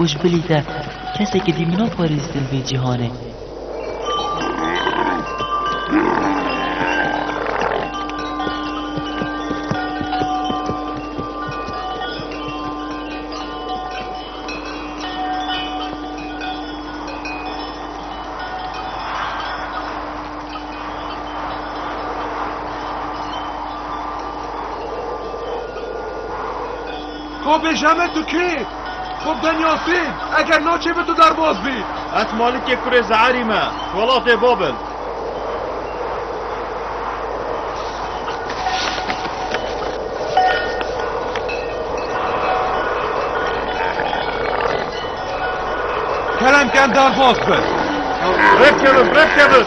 Û ji bilî te kesekî dî min a parêzdin vê cîhanê. Ko bêje me tu kê? Xo bi tenya sên, eger naçê bi tu derbas bî. Ez Malikê kurê Ze'erî me, welatê Babil. Keremken derbas bi. Rêv kevin, rêv kevin.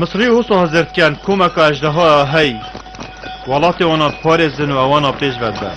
Misrî û sahzirtken komeka ejdehoya hey welatê wan a diparêzin û ewan a pêş vedibin.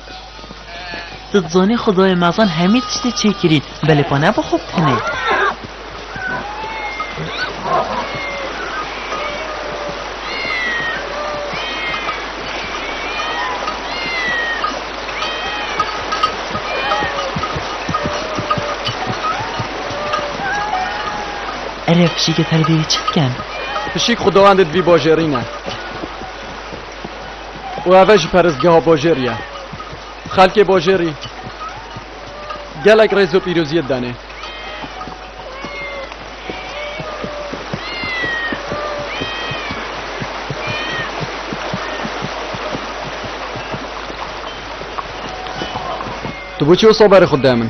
Tu dizanî xwedayê mezin hemî tiştî çê kirî, belê pa ne bi xwe bikinê. Ere pişîkê te li vê yê çi dikin? Pişîk xwedawendê divî bajêrîne. û ev e jî perestgeha bajêrî ye. Xelkê bajêrî gelek rêz û pîrozî didenê. Tu bû çi wisa berê xwe dide min?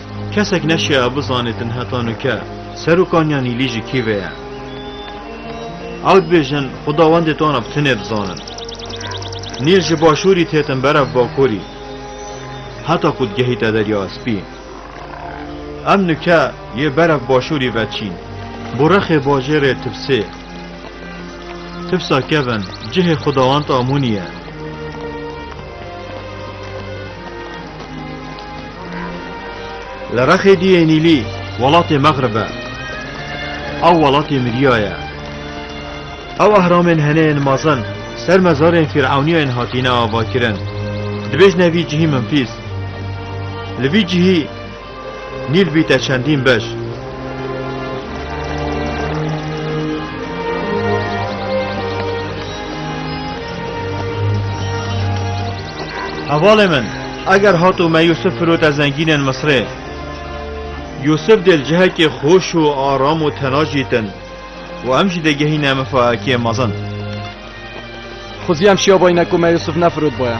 Kesek neşiya bizanê din heta nuke seroka Nyanîlî ji kî ve ye. Ew dibêjin xwedawendê tana bi tinê bizanin. Nîl ji başûrî têtin ber ev bakurî heta ku digehîte Derya Espî. Em nuke yê ber ev başûrî veçîn bo rexê bajêrê Tibsê. Tibsa kevin cihê xwedawend Amûnî ye. Li rexê diyê Nîlî welatê Mexrib e. Ew welatê Midya ye. Ew ehramên hene yên mezin ser mezarên fîr'ewnîyên hatîne avakirin. Dibêjne vî cihî Mimfîs. Li vî cihî Nîl bî te çendîn beş. Hevalê min, eger hat û me Yûsif firote zengînên Misrê. Yûsif dê li cihekê xweş û aram û tena jîtin û em jî dêgehîne mifahekê mezin. Xwezî em şiyabayîne ku me Yûsif nefirotbaya.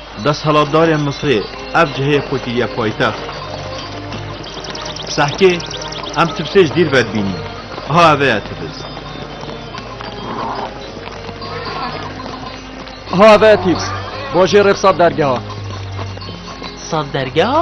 Desthilatdarên Misrê ev cihê xwe kiriye paytext. Sehkê, em tifsê ji dîr ve dibînîn. Aha ev eye tifs. Aha ev eye tifs. Bajê rêv sat dergeha. Sat dergeha?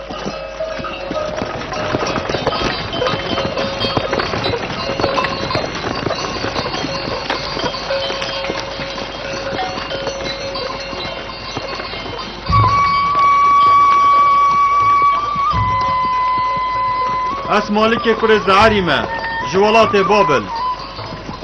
Ez Malikê kurê Zeerî me ji welatê Babil.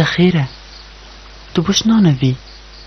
Te xêr e. Tu bişnanevî.